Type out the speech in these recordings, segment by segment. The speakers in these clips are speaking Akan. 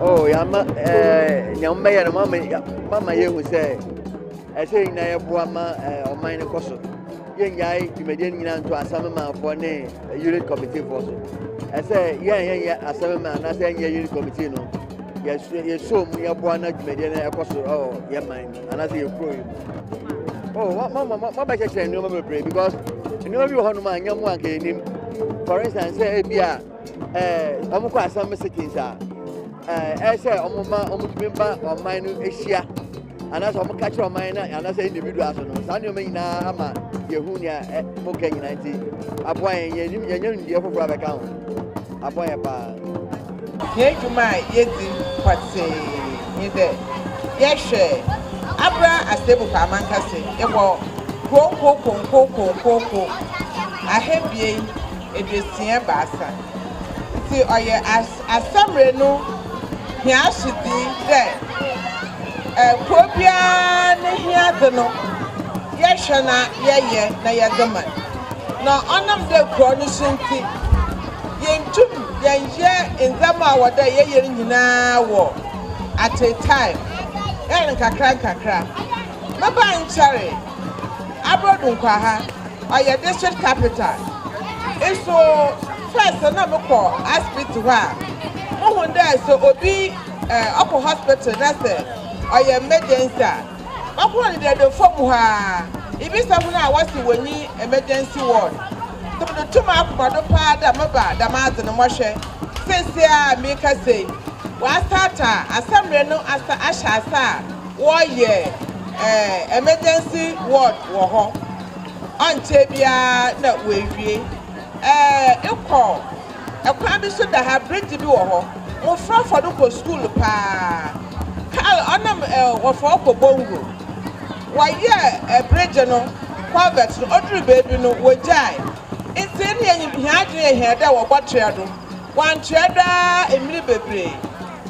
Oh, yeah, ma, eh, yeah, ma, yeah, mama, mama, yeah, who say, I say, na, yeah, boy, ma, eh, or mine, of course. Yẹn yà ayé tìmẹ̀díẹ̀ nyinaa nto asẹ́mi maa fọ ní unit committee fọ so. Ẹsẹ̀ yẹn yẹn yẹ asẹ́mi maa n'asẹ́ yẹn yẹ unit committee no. yɛsrɛ yɛsrɛ mu yɛboa na dwumadie no ɛkɔ so ɛwɔ yɛn man mu anaasɛ yɛn kuro yi mu oh ma ma ma ma bɛkyɛkyerɛ nneɛma bebree because nneɛma bi wɔ hɔnom a nyɛ mu anka yɛnim for instance sɛ ebi a ɛɛ wɔn kɔ asɛm sittings a ɛɛ ɛyɛ sɛ wɔn ma wɔn tumi ba ɔman no ahyia. anaasɛ wɔn ka kyerɛ ɔman na anaasɛ individual so no saa nneɛma nyinaa ama yɛhu nea mo ka nyinaa nti aboa yɛn yɛnim yɛnyɛ nimdeɛ foforɔ abɛka ho aboa yɛn paa yɛn adwuma a yɛdi pɔtee ne dɛ yɛhwɛ abra asɛbukɔ amankase ɛwɔ kurow nkokonkokonkonko ahebien eduosia-ebiasa. Ntsi ɔyɛ asamer no hɛn asodzi dɛ kurow biara ne hiadze no yɛhwɛ na yɛyɛ na yɛdze ma no. Na ɔnam dɛ kurow no so ntsi, yenntum yɛnnyɛ ndzɛmba a ɔwɔ dɛ yɛyɛ no nyina wɔ at a time, yɛyɛ no nkakrankakra. Mebaa nnkyɛree. Abrodu Nkwaha, ɔyɛ district capital nso first no na me kɔ aspiti hɔ a mo hu dɛ sɛ obi eh, ɔkɔ hospital na sɛ ɔyɛ emergency a bɛkɔ no dɛ dɛ fam hɔ a ibi sɛ ho no a wɔsi wɔ nyi emergency ward nti mo de to mo akoma do paa dɛ mo ba dɛm adze no mo hwɛ sɛsɛ a me kasa yi wɔ asata asɛmrɛ no asa ahyɛ asa a Wɔyɛ emergency ward wɔ hɔ ɔnkyɛ biara na wɔawie kɔ kwan bi so da ha bridge bi wɔ hɔ mmofra fa do kɔ skuul paa kaal ɔnam wɔfa ɔkɔ bongo wɔyɛ bridge no culvert no odur beebi no wɔgyae ntsi nna yɛnye hɛn adwen yɛ hɛn dɛ wɔbɔtoa do wɔanntoa do ara mber bebree.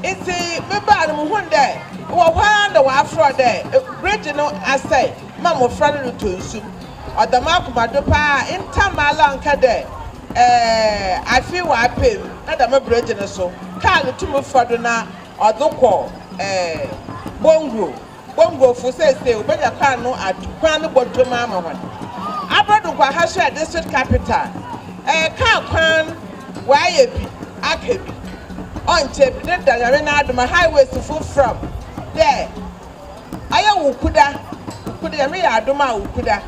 Ntsi mebaa no muhun dɛ ewɔ hɔ ara na wɔafora dɛ bregye no asɛe ma mbofra no rotɔ nsu. Ɔda m'akoma do paa a nta maala nka dɛ ɛɛ afei ɔapɛ mu na dɛm bregye no so kaar no tum fa do na ɔdze kɔ ɛɛ Bongwo. Bongofo seesei wobenya kwan no ad kwan no bɔdwam ama hɔn. Aber do Kwaha so yɛ district capital. Ɛyɛ kaar kwan wɔayɛ bi aka bi ɔnnkyɛ bi deda Nyame n'adom a highways fo fram dɛ ɔyɛ Wukuda Wukuda Nyame yɛ adom a Wukuda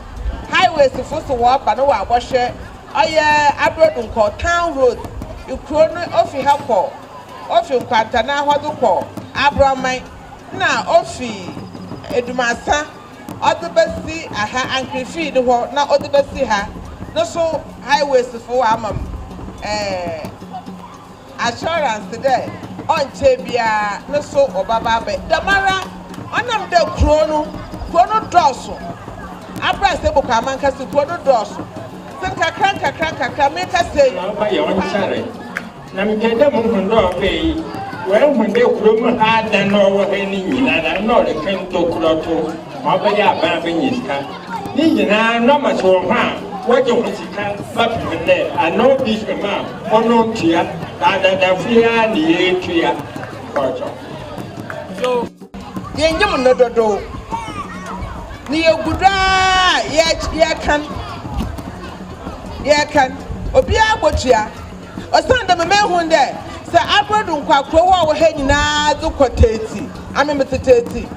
highways fo so wɔreba na wɔabɔhwɛ ɔyɛ Abrodunkɔ town road ekurow no ofi ha kɔ ofi Nkwanta na hɔ do kɔ Abroman na ofi Edumasa ɔdze besi aha Ankrefii no hɔ na ɔdze besi ha no so highways fo wɔama me assurance dɛ ɔnnkyɛr biara no so wɔbɛba abɛ dɛmara ɔnam dɛ kurow no kurow no dɔɔ so aber a Seboko amankasa kurow no dɔɔ so dze nkakra nkakra nkakra merekasa yi. Na mepɛ dɛ muhu dɛ ɔbaa yi oehu dɛ kurow mu ha adan a ɔwɔ ha yi ne nyina na nna ɔreka ntokura to ma ɔbɛyɛ aban abenya sika. Ne nyina na ɔma sɛ wɔ hɔn a wɔgye ho sika ba pɛ hɔn dɛ ana obi hwɛ mu a ɔno ntua, na adadafo yi ara na yeetua kɔɔtɔ. So yennyim no dodow? Na yegu do ara yɛrekan, yɛrekan, obiara botua. Osiandɛ mehun dɛ sɛ aber do nkwakurow a ɔwɔ ha nyina dze kɔ tatsi, ame metse tatsi,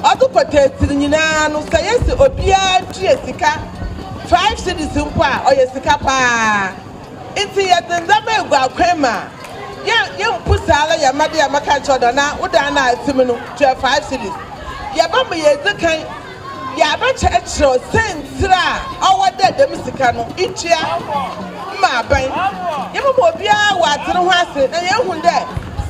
ɔdze kɔ tatsi no nyina no, sɛ yesi obiara tua sika five cedis mpo a, ɔyɛ sika paa. Ntsi yɛdze ndzɛmba egu akwan mu a, yɛ yemmpu saara yɛ mma dɛ yɛbɛka akyerɛ wo dɛ, Ana wo dan no a etse mu no, tua five cedis. Yɛbɛma yedzi kan. Yɛabɛkyerɛkyerɛw siantsir a ɔwɔ dɛ dɛm sika no itua ma aban. Yɛbɛma obiara ɔatse no ho ase na yeehu dɛ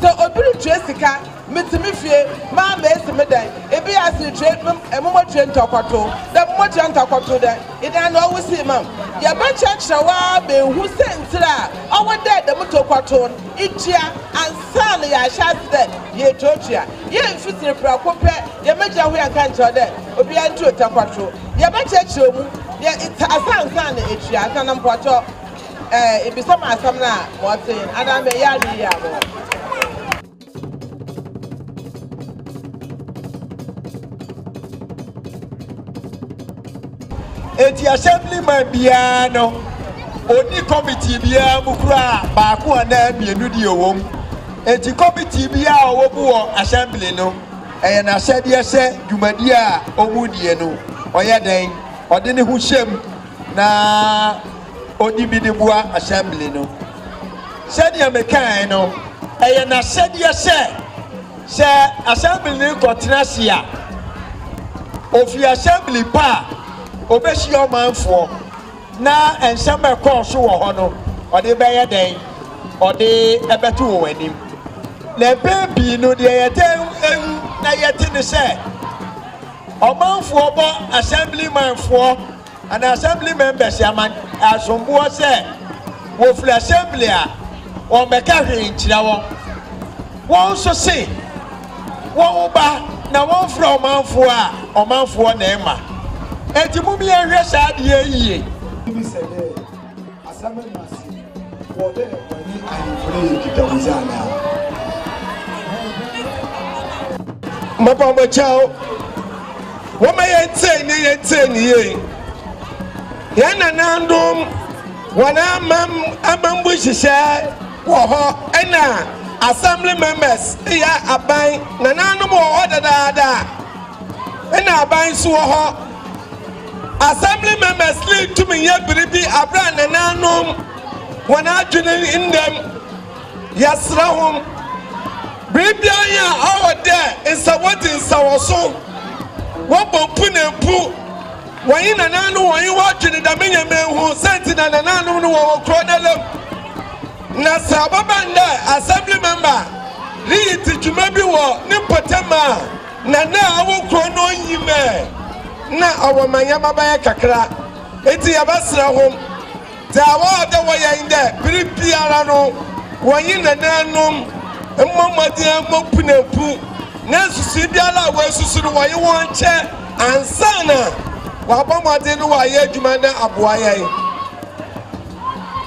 sɛ obi rutua sika, metse me fie, maa mesi me dan, bi a sɛ itua me a mobotua ntɔkɔtow dɛ, mobotua ntɔkɔtow dɛ, ena ana ɔwo sii ma m'? Yɛbɛkyerɛkyerɛw ara ma ehu siantsir a ɔwɔ dɛ dɛm tɔkɔtow no. Ikyia, ansa na yaahyɛ ase dɛ yeetuatua hɛn mfitsir prɛko pɛ, yɛbɛgyina hɔ yɛnnka nnkyerɛw dɛ obiara ntu otakwato. Yɛbɛkyerɛkyerɛ mu, yɛ etse ase ansa na etua, ansa na mpɔtɔ ibisa me asɛm no a, ma ɔtse hen anaa ma eyɛ adwen yie a, ma ɔtse. Enti Assemblyman biara no, onni committee biara mu koraa baako anaa mmienu deɛ ɔwɔ mu. Enti committee biara a ɔwɔ mu wɔ Assembly no, ɛyɛ n'asɛdeɛ sɛ dwumadie a wɔredie no, ɔyɛ dɛn? Ɔde ne ho hyɛ mu na ɔdi bi de boa Assembly no. Sɛdeɛ mekaeɛ no, ɛyɛ n'asɛdeɛ sɛ. Sɛ asɛmblini kɔtena ase a, ofi asɛmbli pa a, obehyia ɔmanfoɔ, na nsɛm a ɛkɔɔ so wɔ hɔ no, ɔde bɛyɛ dɛn? Ɔde bɛto wɔn anim. Na mpɛn pii no, deɛ yɛtaa hu na yɛte ne sɛ, ɔmanfoɔ bɔ asɛmblimanfoɔ and assembly members ama asomboɔ sɛ wɔfiri assembly a wɔmmɛka hwee nkyerɛ wɔn. Wɔn nso se wɔba na wɔmfrɛ ɔmanfoɔ a ɔmanfoɔ na ɛma. Enti mom yɛnhwɛ saa adeɛ yi yie. Asɛm no ma se, Wɔ dɛ wɔnye ahemfo no yɛ nkitahodzi anaa? Mapa mo kyɛw. Wɔma yɛntsei ne yɛntsei ne yie. Yɛn nanandom wɔn amam amambu nhyehyɛ wɔ hɔ ɛna assembly members yɛ aban nananom wɔ hɔ dadaada ɛna aban nso wɔ hɔ. Assembly Members League tumi yɛ biribi bere a nananom wɔn adwene nnam. Yɛsrɛ hom, ber biara a ɔwɔ dɛ nsɛwdzi nsɛwɔso, wɔbɔ mpu na mpu, wɔnye nananom wɔnye hɔn dwen dɛm ndzɛmba yi ho, siantsir na nananom no wɔwɔ kurow n'ala mu. Na sɛ ɔbɛba no dɛ Assembly Member riyi dzi dwuma bi wɔ ne mpɔtam a, Na na awo kurow no nnyim ɛ, nna ɔwɔ manyɛmba bɛyɛ kakra. Ntsi yɛbɛserɛ hom dza wɔayɛ dɛ wɔyɛ nye dɛ ber biara no wɔnye nanaanom mbɔ mbɔdzen ambɔ mpunampu na nsusui biara a woesusu no wɔnye hɔn nkyɛ ansaana wɔabɔ mbɔdzen na wɔayɛ edwuma na aboa hɛn.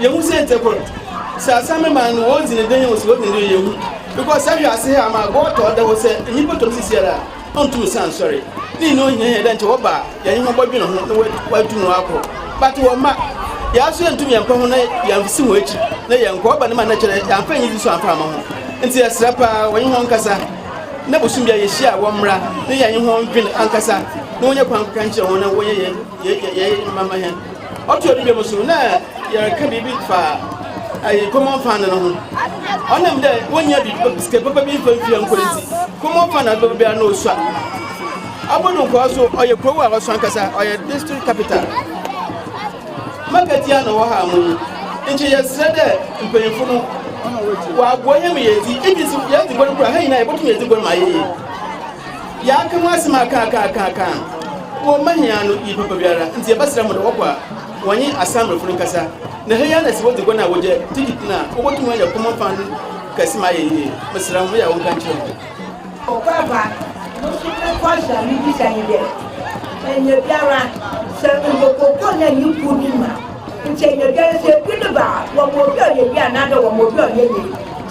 Yehu sɛ ntsɛ kor, sɛ asɛm no ma no hɔn dzi no dɛn osi hɔ dɛn dɛ yehu, because saa wiadze ha ama agow atɔ hɔ dɛ wo sɛ nyimpa tɔ no sisiara a, onntum san nnsoɛr. Ne nyina ohiahia dɛ nkyɛ wɔba a yɛnye hɔn bɔdwen ho na woeetum wɔakɔ. But wɔ mma, yɛara so yenntum yɛmmpa ho na yɛanndzi hɔn ekyir na yɛnnkɔ, ɔba no ma nna kyerɛ yɛammfa enyidzi so ammfa amma ho. Ntsi yɛserɛ paa wɔnye hɔn nkasa na bosoom biara yehyia a wɔmbra na yɛnye hɔn ndwen ankasa na wɔnya kwan nkɛka nkyerɛ hɔn na wɔnyɛ yɛn yɛyɛ mma mma hɛn. Ɔtoa do bio so, nna yɛreka biribi fa ayi common fund no ho. Ɔnam dɛ wonnya biribi pa sika papa bi mfa ntua nkɔ ntsi, common fund a ɔdze bɛba biara nna osua. Abodunkɔɔ so, ɔyɛ kurow a ɔsõ ankasa, ɔyɛ district capital. Market a nna ɔwɔ ha mu no, nkyɛ yɛserɛ dɛ mpanyimfo no wɔaboa hɛn ma yeedzi, iyi dze so yɛdze bɔn koraa a, hɛn nyina yebotum yedzi bɔn ma ayɛ yie. Yɛaka ho asɛm akaakaakaaka a wɔmma hia no yie papa biara, ntsi yɛbɛserɛ hɔn dɛ wɔkɔ a wɔnye Asamblefo no nkasa, na ha yi ara na sɛ wodzi gua no a wɔgya ticket no a, wobotum ayɛ common fund kɛse ma ayɛ yie. Meserɛ hom, meyɛ a wɔnka nkyerɛ hɔn. Okwapa, No so me kɔsra me bisa nye dɛ, enya biara sɛ mobɔkɔkɔ na nye kuw no mu a, nkyɛ enya biara sɛ bi no ba a, wɔma obi a ɔyɛ yie anaadɛ wɔma obi a ɔyɛ yie.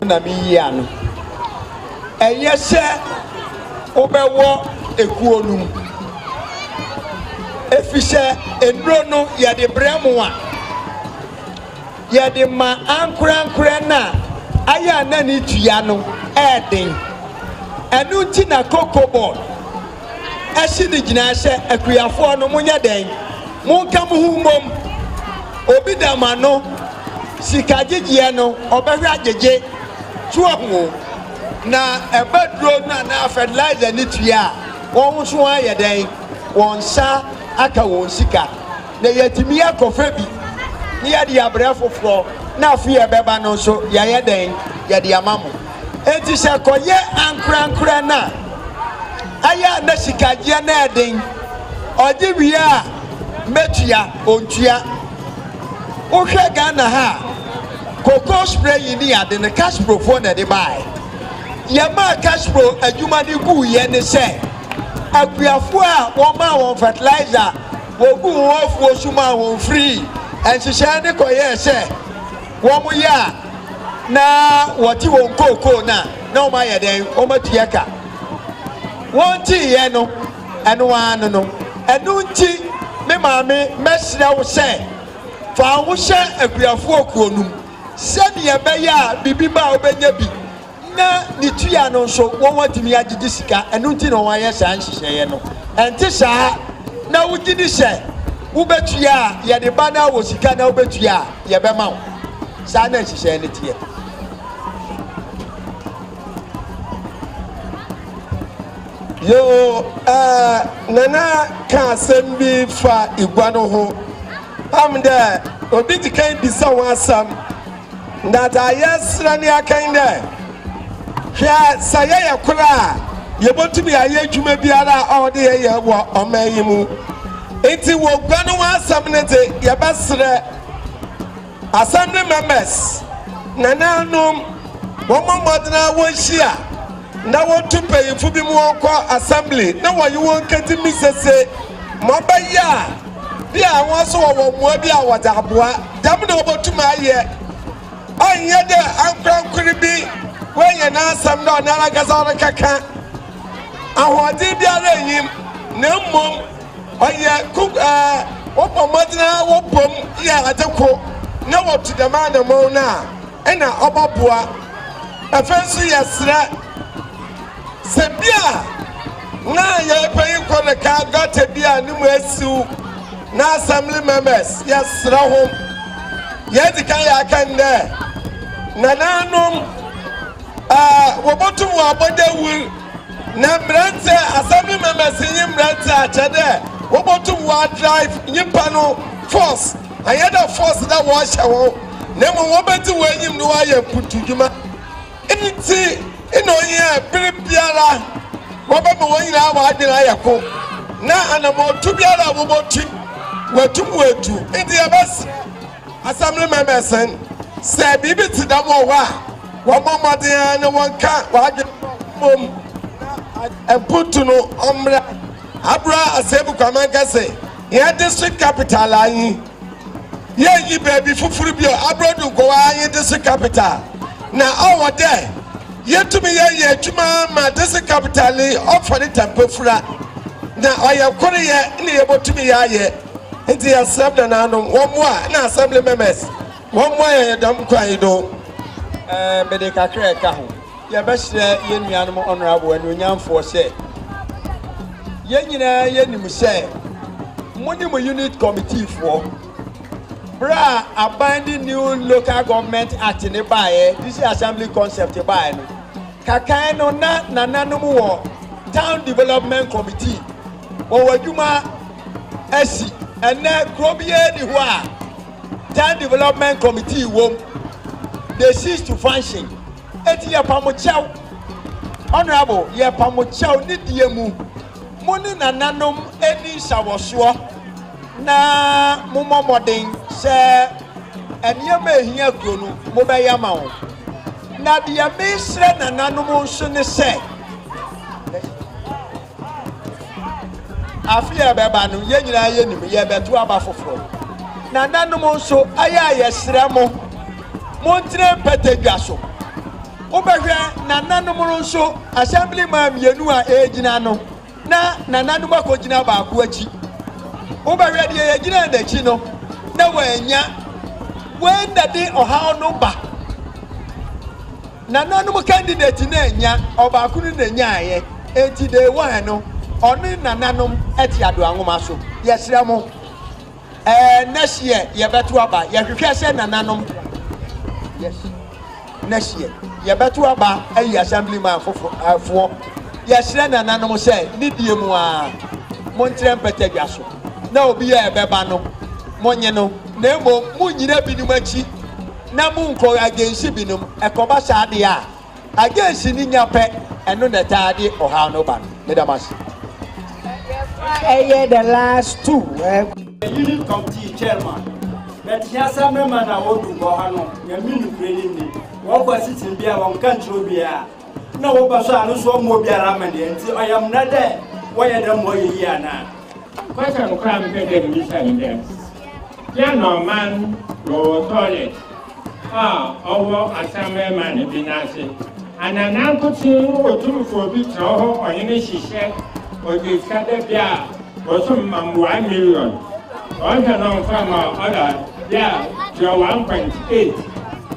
na meyi ano. Ɛyɛ sɛ wobɛwɔ ekuo no mu, ɛfiri sɛ nnuro no yɛde brɛ mo a, yɛde ma ankorankorɛ no a ayɛ a na ne dua no yɛ den. Ɛno nti na Kokobot. asi ne gyinae sɛ akuafoɔ no monyɛ dɛn monka mo ho mmom obi da mo ano sika gyegyeɛ no ɔbɛhwɛ agyegye to ahu na ɛba duro no anaa fertilizer ne tua a wɔn nso ayɛ dɛn wɔn nsa aka wɔn sika na yɛatumi akɔfɛ bi ne yɛde abrɛ foforɔ na afei ɛbɛba no nso yɛayɛ dɛn yɛde ama mo Enti sɛ ɛkɔyɛ ankorankoraa no a, ɛyɛ a na sikagyeɛ no yɛ den. Ɔgye wie a, mɛtua, ɔntua. Wohwɛ Ghana ha a, cocoa spray yi ne ade no, Casprofoɔ na ɛde baeɛ. Yɛmaa Caspro adwuma no guiɛ ne sɛ, akuafoɔ a wɔmaa wɔn fertilizer, wɔguu wɔn afuo so maa wɔn firii nhyehyɛeɛ no kɔyɛɛ sɛ, wɔyɛ a na wɔte wɔn kookoo no a, na wɔayɛ dɛn? Wɔatua ka. Wɔnteeɛ no, ɛno ara no no. Ɛno nti, me maame, mɛsrɛ wo sɛ, fa wo ho hyɛ akuafoɔ kuo no mu sɛdeɛ ɛbɛyɛ a biribi ba a wobɛnya bi. na ne tua no nso wɔatumi agyegye sika, ɛno nti na wɔayɛ saa nhyehyɛeɛ no. Ɛnte saa na wogye di sɛ wobɛtua a yɛde ba no wɔ sika na wobɛtua a yɛbɛma wo. Saa na nhyehyɛeɛ no teɛ. Yoo, ɛɛ, Nana ka asɛm bi fa igua no ho. Pam dɛ, obi dzi kan bisa ho asɛm. Na dza yɛserɛ no yɛkã nye dɛ, Hwɛ, sɛ yɛyɛ kor a, yebotum ayɛ edwuma biara a ɔwɔ dɛ yɛyɛ wɔ ɔman yi mu. Ntsi wɔ gua no ho asɛm no dze, yɛbɛserɛ asɛm no members nanaanom wɔmbɔ mbɔdzen ara wonhyia na wotu mpanyimfo binom wɔnkɔ assembly na wɔnye hɔn nkɛdzi misese ma ɔbɛyɛ a, Bi a hɔn so wɔwɔ mboa bi a wɔdze aboa. Dɛm na obotum ayɛ. Ɔnnyɛ dɛ ankorankor bi oenya n'asɛm dɛ ɔnoarankasa ɔrekɛkã. Ahoɔdzen biara nnyi mu, na mbom ɔyɛ kok a wɔbɔ mbɔdzen ara wɔbɔ mu yɛ adze kor na wɔtu dɛm anamɔn no a, nna ɔbɔboa. Afei so yɛserɛ. Sɛ bi a, na yɛrepanyin kɔ ne kaa gɔta bi a ne mu asiw na assembly members yɛsrɛ ho. Yɛdzi kan yɛaka no dɛ nanaanom ɛɛ wɔbotum wɔabɔ dawur na mberantsɛ assembly members nye mberantsɛ akyɛ dɛ wɔbotum wɔadrive nyimpa no force annyɛ dɛ force dɛ wɔrehyɛ hɔn na mbom wɔbedzi hɔn enyim na wɔayɛ mpuntudwuma. Enti na ohia bere biara wɔbɛma wɔn nyinaa wɔn adwene ayɛ ko na anamɔtu biara a wɔbɔtu wɔatum wɔatu. Enti yɛbɛsrɛ Assembly Members n sɛ biribi te dɛm wɔ hɔ a wɔmmɔ mmɔden ara na wɔnka wɔn adwene bɔ mmom na mputu no ɔmmra Abura Asebu Kwaman Kɛse, yɛn District Capital anyi. Yɛnnyi beebi fofor bio aber do nkɔ hɔ ara nye dese capital, na ɔwɔ dɛ yetum yɛyɛ edwuma ma dese capital yi ɔfa ne tampafura, na ɔyɛ koryɛ na yebotum yɛayɛ. Ntsi yɛserɛ bnanaanom wɔmboa na Assembly members wɔmboa yɛn dɛm kwan yi do. Mede kakra a ɛka ho. Yɛbɛsrɛ yɛn nuanom honourable anuonyamfoɔ sɛ, yɛn nyinaa yɛnim sɛ mo ne mo unit committeefoɔ, berɛ a aban de new local government act ne baeɛ, district assembly concept baeɛ no, kakan no na nananom wɔ town development committee, wɔwɔ adwuma asi, ɛnɛ kuro biara ni hɔ a, Town Development Committee wom, they cease to function. Eti yɛpa mo kyɛw, honorable, yɛpa mo kyɛw ne deɛ mu. Mo ne nananom ɛni nsawɔsoɔ na mo mɔ mmɔden sɛ nneɛma ɛhia kuro no mo bɛyɛ ama wɔn. Na deɛ mesrɛ nananom nso ne sɛ, Afe a ɛbɛba no, yɛn nyinaa yɛnim, yɛrebɛto aba foforɔ. Nananom nso, ɛyɛ a yɛsrɛ mo, montena mpatadwa so. Wobɛhwɛ nananom no nso, assembly man mmienu a ɛregyina no, na nananom akɔgyina baako akyi. Wobɛhwɛ deɛ yɛgyina n'akyi no, na wɔanya. Wei na de ɔhaw no ba. Nananom candidate no annya, ɔbaako no na nyaeɛ, enti day one no ɔne nananom te adoa nwoma so. Yɛsrɛ mo ɛɛ next year yɛbɛto aba, yɛhwehwɛ sɛ nananom yes next year yɛbɛto aba ayi assemblyman foforɔ foɔ. Yɛsrɛ nananom sɛ ne die mu ara montrɛ mpɛtɛdwa so na obi a ɛbɛba no monye no na mmom monnyina binom akyi. Na mo nkɔ agency binom ɛkɔba saa deɛ a, agency no nya pɛ, ɛno na ɛtaa de ɔhaw no ba no. Meda mo ase. Ɛyɛ the last two eh. Unit committee chairman but hia sɛ mɛma na wɔdu bɔ ha no nyame nukurɛ ni ni wɔkɔ sitting bia wɔnka nkyerɛ obiaa. Nna wɔba so a no so ɔmmbɔ obiara amanneɛ, ntsi ɔyɛ mbra dɛ wɔyɛ dɛm ma ɔyɛ yie anaa? Kwasɛm no koraa mmpɛ dɛ mibisa no dɛm. Yɛn na ɔman no wɔ toilet a ɔwɔ asamɛma no bi n'ase, ana nankotsee no otum fa obi tsena hɔ ɔnye no hyehyɛ ɔdze sika dɛ bi a bosoom ma mboa million ɔnhwɛ no mfa ma ɔda bi a tua one point eight?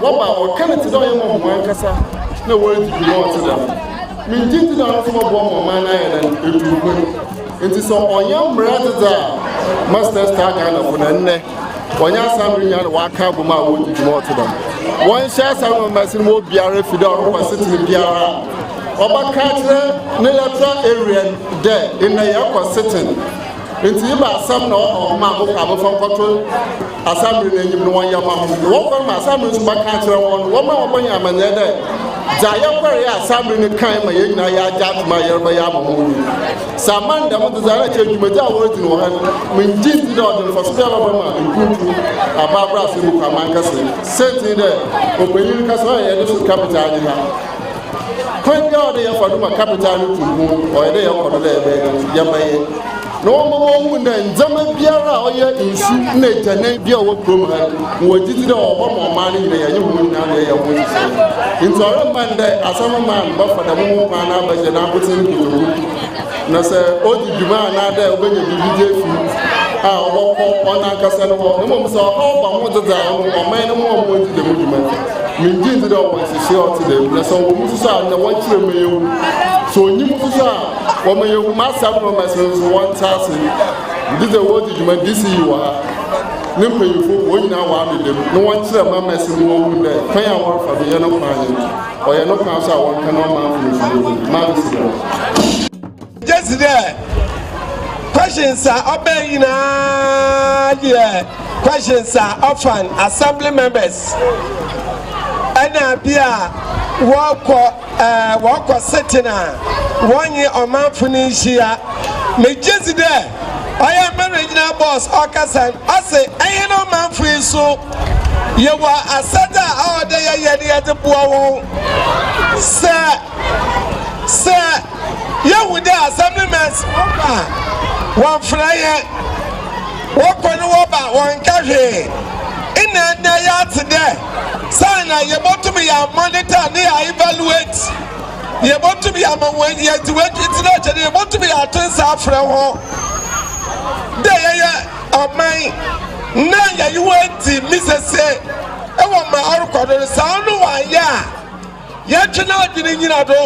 Wɔba a, wɔka no te dɛ ɔyɛ ma hɔnankasa na woridzi dwuma a ɔtse dɛm. Me ngyedzi dɛ ɔno so bɔboa ma ɔman no ayɛ dɛn? Etu mpon. Ntsi sɛ ɔnnyɛ mbra adzedze a, Masters taa Ghanafo na ndɛ wɔnnyɛ asaano nyina na wɔaka abɔ mu a woridzi dwuma a ɔtse dɛm. Wɔnhyɛ asaano ma mbasin ma obiara fi dɛ ɔrokɔ asetsena biara a, ɔbɛka akyerɛ ne electoral area no dɛ ndɛ yɛrokɔ setsen Ntsi eba asɛm na ɔka hom a mokɔ a momfa nkɔto asamber n'enyim no wɔnyɛ mma hom, na wɔkɔ no ma asamber so bɛkã akyerɛ hɔn no, wɔmma wɔbɔnyɛ amannyɛɛ dɛ, Dza yɛkɔree a asamber no kãe ma hɛn nyina yɛagye ato mu a yɛrebɛyɛ ama hom no, sɛ amma no dɛm dze a nna nkyɛ dwumadzi a woridzi no wɔ ha no, menngye nndzi dɛ ɔdze mfaso biara bɛba ma mpontu anaa abrasɛm mu kwaman kɛse. Siantsir nye dɛ, ɔpanyin no kasa a ɔyɛ dɛ so kã me dze agye ha. Kwan biara a ɔdɛ yɛfa do ma capital no tu mpon, ɔyɛ dɛ yɛkɔ do dɛ yɛbɛyɛ no ntsi, yɛbɛyɛ na wɔma wohu dɛ ndzɛmba biara a ɔyɛ nsu na egyanan bi a ɔwɔ kurom ha no, mowɔ gyedzi dɛ ɔwɔ hɔ ma ɔman no nyina, yɛnye hɔn nyina na yɛyɛ ho nhyehyɛɛ. Ntsi ɔremmba ndɛ Assembly man bɛfa dɛm ho kwan no abɛhyɛ n'abotsen nkotodwe mu, na sɛ odzi dwuma anaadɛ obenya biribi dze efi mu a, ɔbɔkɔ ɔnankasa no hɔ, mbom sɛ ɔhaw ba ho dze dza ɔno ɔman no mboa ma odzi dɛm dwuma no. Menngye nndzi dɛ ɔwɔ nhyehyeɛ a ɔtse dɛm, na sɛ ɔwɔ mu so so a, nna wɔnkyerɛ mma yehu. Sɛ onnyi mu so so a, wɔma yehu m'asɛm no ma sɛ so wɔntse ase. Megye dze dɛ woridzi dwuma DCE wɔ ha, ne mpanyimfo, hɔn nyina wɔa me dɛm, na wɔnkyerɛ mma mma se wohu dɛ kwan a wɔrefa do yɛ no kwan nye no. Ɔyɛ no kwan so a wɔnka na ɔmma amfomso biara mu. Mma me serɛ wo. Gyesi dɛ questions a ɔbɛn nyinaa deɛ questions a ɔfan assembly members ɛna bi a wɔkɔ ɛɛ wɔkɔ sitting a wɔnye ɔmanfo no nhyia megye dzi dɛ ɔyɛ mɛrɛ gyina boss ɔkasa ɔse ɛnye no ɔmanfo yi so yɛwɔ asɛdze a ɔwɔ dɛ yɛyɛ no yɛdze boa wɔn sɛ sɛ yɛhu dɛ asɛmblmɛs wɔba a wɔmmfrɛ hɛn, wɔkɔ no wɔba a wɔnnka hwee. Nna ndɛ yɛatse dɛ saana yebotum yɛamonitor na yɛaevaluate, yebotum yɛama hɔn yɛdze hɔn etsir ahyɛ na yebotum yɛato nsa afrɛ hɔn dɛ yɛyɛ ɔman na yɛnye hɔn edzi mesese wɔ ma ɔrokɔ do no. Sɛ ɔno wɔannyɛ a, Yɛtwe n'adwene nyina do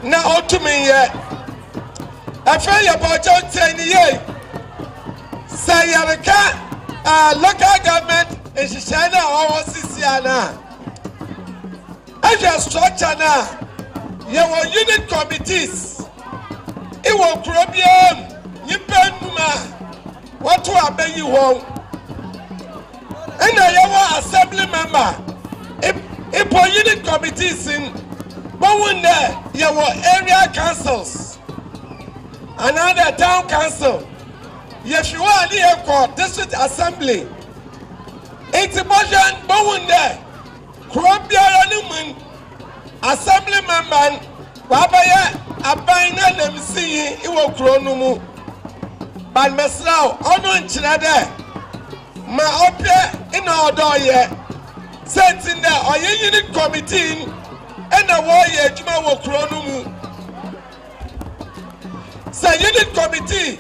na otum yɛ. Afei yɛbɔ kyɛnkyɛn no yie. Sɛ yɛreka ɛɛ local government nhyehyɛe no a ɔwɔ sisia no a, ɛhwɛ structure no a, yɛwɔ unit committees wɔ kuro biara mu, nyimpa enum a. Wɔto aba yi wɔn na yɛwɔ assembly member mpo unit committees n bohu nnɛ yɛwɔ area councils anaadɛ town council yɛfi hɔ a ne yɛkɔ district assembly nti bohwɛ n bohu nnɛ kuro biara no mu n Assemblymanman w'abɛyɛ aban n'ananmusinyi wɔ kurow no mu but mɛsera wo ɔno nkyerɛ dɛ ma ɔpɛ na ɔdɔ ɔyɛ sɛntsi ndɛ ɔyɛ unit committee n' na wɔreyɛ edwuma wɔ kurow no mu sɛ unit committee.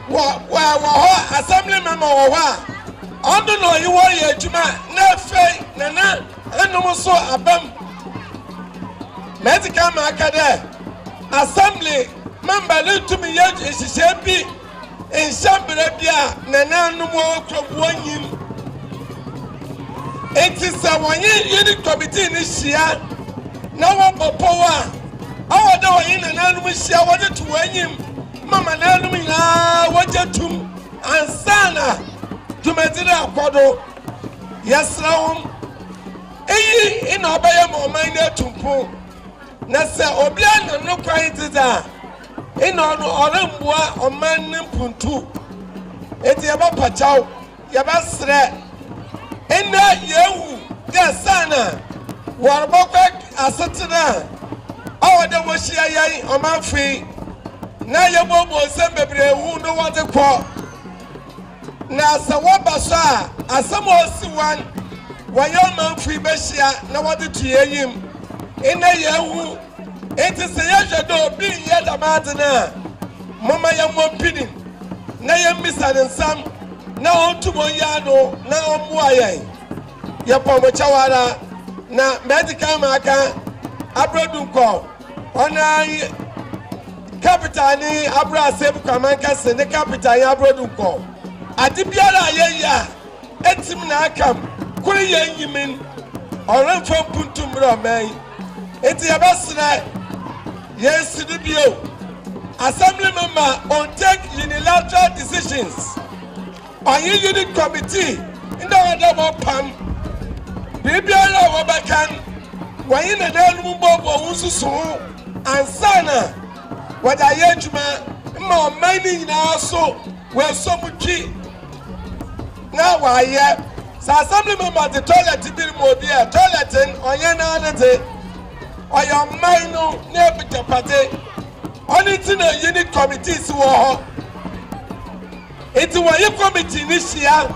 Wɔ wɔ wɔ hɔ assembly member wɔ hɔ a ɔno na ɔyi wɔn yɛ adwuma na afei nana ɛnom nso abam mɛti kan ma aka dɛ assembly member ne ntumi yɛ nhyehyɛ bi nhyɛ mbrɛ bi a nana ɛnom wɔ hɔ kura wɔn nyim nti sɛ wɔnye unit committee ne hyia na wɔbɔ pɔw a ɔwɔ dɛ wɔnye nana ɛnom hyia wɔde to wɔn enyim. ma manan nom nyinaa wɔgye tum ansa na dwumadzi no akɔ do. Yɛserɛ hom, iyi na ɔbɛyɛ ma ɔman no etu mpon, na sɛ obi anam no kwan dze dze a, nna ɔno ɔremmboa ɔman no mpontu. Ntsi yɛbɔpa kyaw. Yɛbɛserɛ ndɛ yeewu dɛ saana wɔrobɔkɔ asetsena a ɔwɔ dɛ wohyia hɛn ɔmamfo yi na yebobuo nsɛm beberee hu no wɔdze kɔ. Na sɛ wɔba so a, asɛm a osi hɔn wɔ hɛn ɔmamfo yi behyia na wɔdze to hɛn enyim. Ndɛ yeehu. Enti sɛ yɛhwɛ dɛ obi nnyɛ dɛm adze no a, momma yɛmmɔ mpinin na yemmisa no nsɛm na ontum onyɛ ano na ɔmboa hɛn. Yɛpɔ mo kyɛw ara, na medzi kan makã Aber Dunkor, ɔno ara nye Kapita ne Abrasɛm Kwamman Kɛse ne Kapita nye Abrɔ Dunkor. Adze biara a yɛyɛ a, Etsim na akam, kor yɛ nyimin, ɔremmfa mpuntu mbrɛ ɔmɛn yi. Ntsi yɛbɛserɛ, yennsi do bio. Assembly no ma on take unilateral decisions, ɔnye unit committee nna wɔda wɔpam biribiara a wɔbɛka n', wɔnye nanaanom mbɔbɔ wo nsusu ho ansaana wɔdze ayɛ edwuma mma ɔman no nyina so. Wɔasɔ mu twi na wɔayɛ sɛ assembly member de toilet bi rema obi ɛ. Toilet n ɔnyɛ naa ne de. Ɔyɛ ɔman no n'abigyapade. Ɔno nti na unit committees wɔ hɔ. Nti wɔye committee ne hyia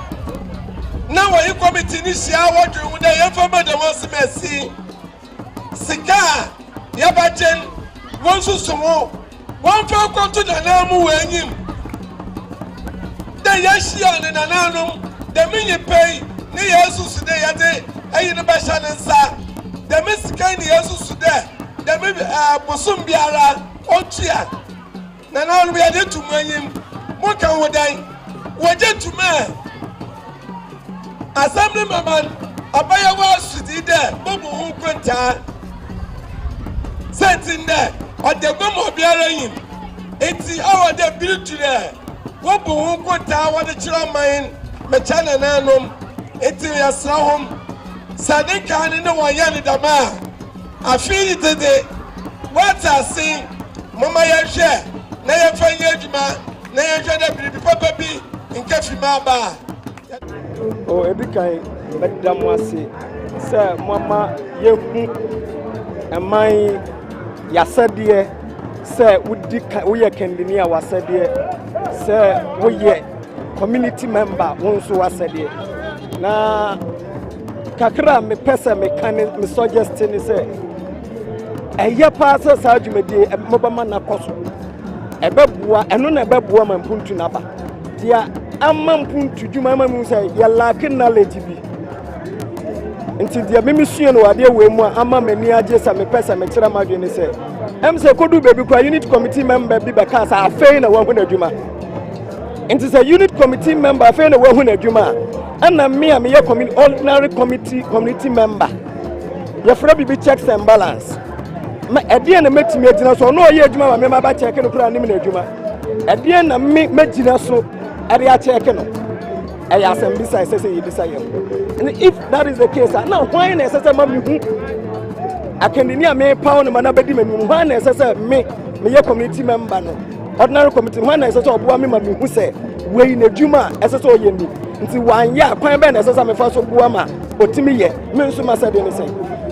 na wɔye committee ne hyia wɔdwen ho dɛ yɛmfa ma dɛm ɔsem asi. Sika a yɛbɛgyen wɔnsusu ho Wɔmfa nkɔto Nanaa mu wɔ enyim dɛ yehyiaa ne nanaanom dɛm nyimpa yi na yeesusu dɛ yɛdze ayi no bɛhyɛ ne nsa. Dɛm sika yi na yeesusu dɛ dɛm bosoom biara otua. Nanaanom, yɛdze to mo enyim. Moka ho dɛn? Wɔgye to mu ɛ? Asɛm no ma man abayewa sodzi dɛ bobu ho nkontaa. Siantsir nye dɛ ɔda gua ma obiara nyim. Ntsi ɔwɔ dɛ ber tu dɛ wobu ho nkontaa wɔdze kyerɛ man mekyɛ nananom. Ntsi yɛserɛ hom, sɛ ne nkaa no ne hɔn yɛ no dɛm a, afe yi dze dze, wɔatse ase, momma yɛnhwɛ na yɛmfa nyɛ edwuma. na yɛnhwɛ dɛ biribi papa bi nnkefi mu aba a. O edi kan, meda mo ase sɛ moama yɛahu ɛman yɛasɛdeɛ sɛ wodi ka woyɛ kandini a wasɛdeɛ sɛ woyɛ community member wo nso wasɛdeɛ na kakra a mepɛ sɛ meka ne me suggest ne sɛ ɛyɛ paa sɛ saa dwumadie mobɛma no akɔ so Ɛbɛboa, ɛno na ɛbɛboa ma mpuntu no aba. Deɛ ama mpuntu dwuma ama mu sɛ yɛlaake knowledge bi. Nti deɛ memesuɛ no wɔ adeɛ wei mu a ama m'ani agye sɛ mepɛ sɛ mekyerɛ m'adwene ne sɛ ɛm sɛ ɛkɔdu baabi koraa unit committee member bi bɛkaa sɛ afei na wahu n'adwuma. Nti sɛ unit committee member afei na wahu n'adwuma a ɛna me a meyɛ ordinary committee community member yɛfrɛ biribi checks and balance ma ɛdeɛn na mɛtumi agyina so ɔno ɔyɛ adwuma ma me ma bɛkyɛke no koraa nim no adwuma ɛdeɛn na me mɛgyina so ɛde akyɛke no ɛyɛ asɛm bisa ɛsɛ sɛ yɛbisa yɛn and if that is the case a na hwan na ɛsɛ sɛ ma mehu akandini a mepaw no ma no bɛdi m'anim hwan na ɛsɛ sɛ me meyɛ community member no ordinary committee hwan na ɛsɛ sɛ ɔboa me ma mehu sɛ wei n'adwuma a ɛsɛ sɛ ɔyɛ ni nti wanyɛ a kwan bɛn na ɛsɛ sɛ mefa so boa ma ɔtumi yɛ Me nso m'asɛde ne sɛ.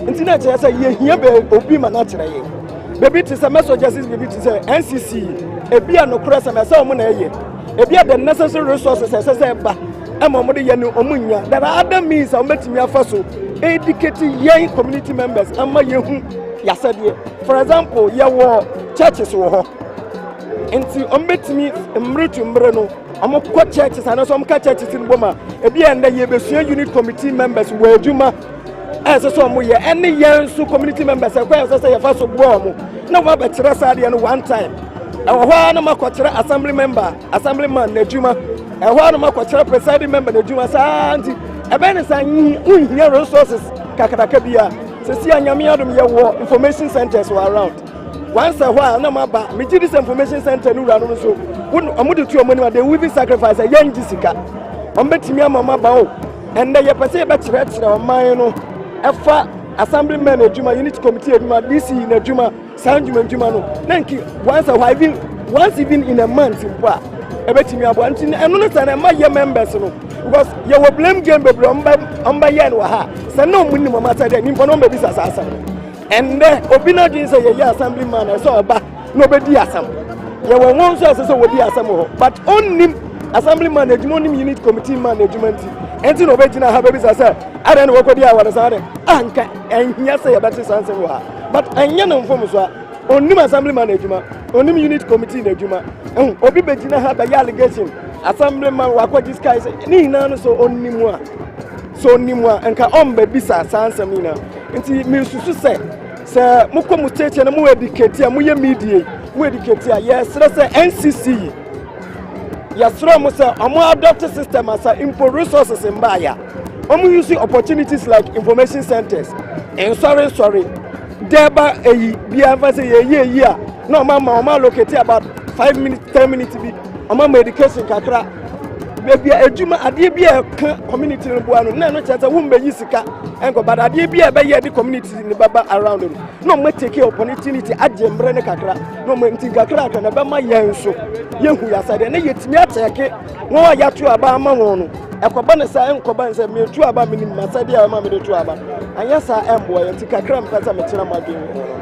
Nti na ɛkyerɛ sɛ yɛhia bɛ obi ma no akyerɛ yɛn. Baabi te sɛ messages, baabi te sɛ NCC, ebi a nokorɛ sɛm ɛsɛ wɔn na ɛyɛ. Ebi a the necessary resources ɛsɛ sɛ ɛba ɛma wɔn de yɛ no wɔn nya. There are other means a wɔbɛtumi afa so educate yɛn community members ama yɛhu yɛasɛdeɛ. For example, yɛwɔ churches wɔ hɔ. Nti wɔbɛtumi mmere to mmere no Wɔkɔ churches anaasɛ wɔka churches no bom a, ebi a ɛnnɛ yɛbɛsua unit committee members wɔ adwuma a ɛsɛ sɛ wɔyɛ ɛne yɛn nso community members ɛkwan ɛsɛ sɛ yɛfa so boa wɔn na wɔabɛkyerɛ saa adeɛ no one time ɛwɔ hɔ ara na makɔkyerɛ assembly member assembly man n'adwuma ɛwɔ hɔ ara na makɔkyerɛ presiding member n'adwuma saa nti ɛbɛn ne saa nhia resources kakraka bi a sɛsi a nyame adom yɛwɔ information centers wɔ around Once a while, na maba me GDC information center no wura no nso. Won omo de to omo anim they even sacrifice a yen sika. Omo betimi ama omo aba o. And the yɛpɛ sɛ yɛbɛkyerɛkyerɛ ɔman no ɛfa assembly men adwuma, unit committee adwuma, DC na adwuma, saa ndwuma ndwuma no. Na nki once a while even once even in a month mpo a ɛbɛtumi aboa. Nti ɛno ne sɛ na ɛma yɛ members no because yɛwɔ blame game bebree ɔmo bɛ ɔmo bɛyɛ no wɔ ha. Sɛ na ɔmo nim ɔmo asɛ dɛ nipa na ɔmo bɛbisa saa asɛm no. Ɛnnɛ, obi n'adwene sɛ yɛyɛ assemblyman a ɛsɛ ɔba na ɔbɛdi asɛm. Yɛwɔ wɔn nso a ɛsɛ sɛ wɔdi asɛm wɔ hɔ. But ɔnnim assemblyman adwuma, ɔnnim unit committee man adwuma nti, ɛnti na ɔbɛgyina ha bɛbisa sɛ adɛn na wɔkɔdi a wɔde saa adɛn. Anka ɛnhia sɛ yɛbɛte saa nsɛm wɔ ha. But ɛnyɛ no mfomso a ɔnnim assemblyman adwuma, ɔnnim unit committee n'adwuma. Obi bɛgyina ha bɛyɛ allegation, assemblyman wakɔgye sika, ne nyinaa no sɛ ɔnnim a. Sɛ onim a, nka ɔmmɛbisa saa nsɛm no nyinaa. Nti mesusu sɛ, sɛ mokɔ mo tiatia na mo ediketi a, moyɛ media yi, mo ediketi a, yɛsrɛ sɛ NCC yi, yɛsrɛ mo sɛ ɔmo adɔte system asa mpo resources mbaayɛ a, ɔmo use opportunities like information centers, nsɔre nsɔre, dɛɛba eyi bia mfa sɛ yɛyɛ eyi a, na ɔmo ama ɔmo allocate about five minutes, ten minutes bi, ɔmo ama education kakra. baabi a adwuma adeɛ bi a ɛka community no boa no na ɛno kyerɛ sɛ wombɛyi sika ɛnkɔ but adeɛ bi a ɛbɛyɛ de community no bɛba around no na ɔma take opportunity agye mmerɛ ne kakra na ɔma nti kakra kakra na ɛbɛma yɛn nso yɛhu yɛasa deɛ na yɛtumi akyɛke wɔn a yɛato aba ama wɔn no ɛkɔba ne sɛ ɛnkɔba ne sɛ metu aba menim masɛdeɛ a ɛma mede to aba anyɛ saa ɛmboa yɛ nti kakra mpɛ sɛ mekyerɛ mo adwene ho